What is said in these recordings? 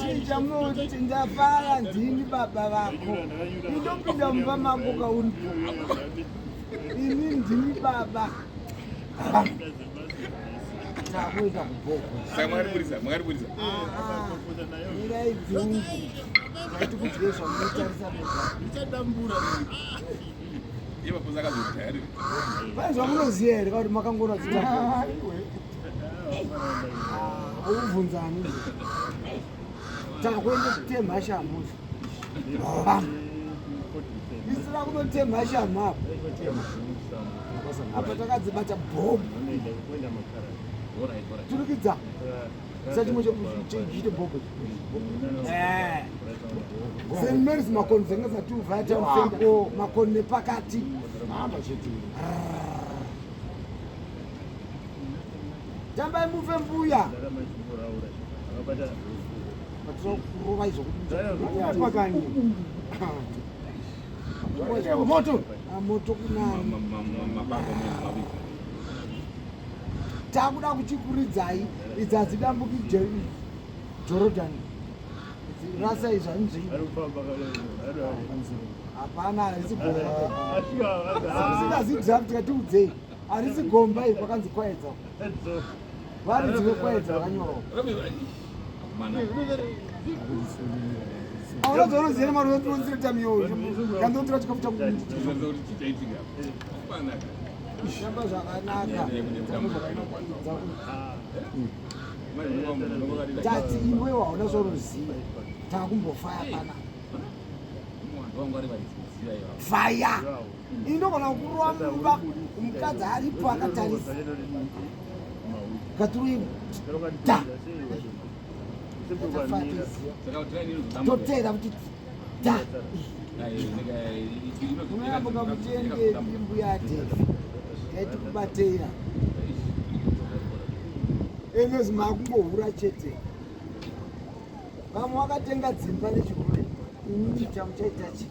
chinja moto chinja faya ndini baba vako indopinda mumba mako kauripo ini ndini baba takuita kubokoirai dzungu ati kudye zvamunotarisa vaizvamunoziva here kakuti makangona dzita Ubvunzani? Takwenda kutemha shamhu. Isira kunotemha shamhu apa. Apa takadzibata bomu. Turikidza. Sachimwe chekuita bomu. Eh. St. Mary's makoni dzenge dzati uvaya tamufenda makoni nepakati. Hamba chete. tambai mufe mbuya patinokurova izvokuapakani moto ah, moto kunani takuda kuchikuridzai idzi hadzidambuki jordan rasa izvi hanzvii hapana haisi boasingazidraft katiudzei Arisi gomba ipo kanzi kwaedza. Vari dziwe kwaedza kanyoro. Mana. Ahora zoro zero maro yetu nzira tamyo. Kando tira chikafuta kuti. Zoro tichaitika. Kupana. Shamba zvakanaka. Tati iwe waona zoro ziva. Takumbofaya pana. Fire. ini ndogona kukurova mumba mukadzi aripo akatarisa katuruimu ta toteera kuti ta unoyambuka mutende imbu yate yaiti kubateira enozi maakungohura chete vamwe wakatenga dzimba nechihure ini chamuchaita chii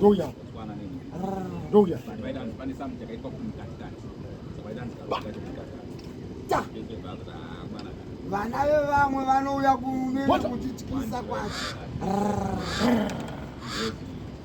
Doya. Doya. Vana vevamwe vanouya kumene kutityisa kwacho.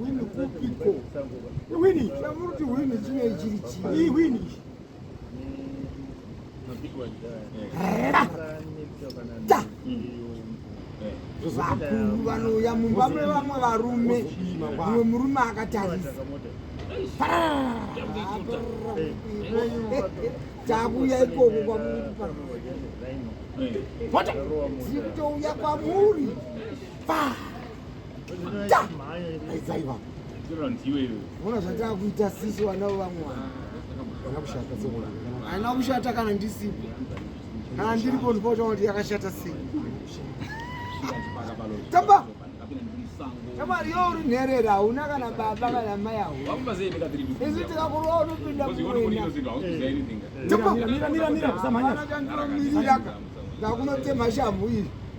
Wini kupiko? Wini, chamuruti wini chine chiri chii? Wini. Vakuru vanouya mumba mevamwe varume, mumwe murume akatarisa takuya ikoko kwamuri paa zikutouya kwamuri paa Aidzaiva. Mona zvatava kuita sisi wanavo vamwe vanhu. Kana kushata sekona. Haina kushata kana ndisipo. Kana ndiripo ndipota kuti yakashata sei. Tamba. Tamba riyo uri nherera hauna kana baba kana mai hauna. Isu tikakuroa unopinda kuwena. Tamba. Mira mira mira kusamanya. Ndakunotemha shamhu iri.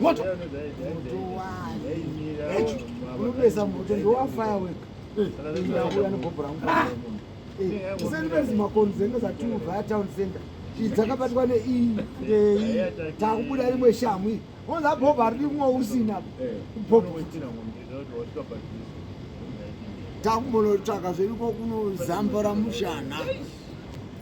moto unopesa moto ndowa firework ndauya negobho rangu tisenipezi makonzi dzenge dzatiubva atown center dzakabatwa neiyi takubuda rimwe shamwi onza bhobha rimwe usina bhobho takumbonotsvaka zveiko kunozambora mushana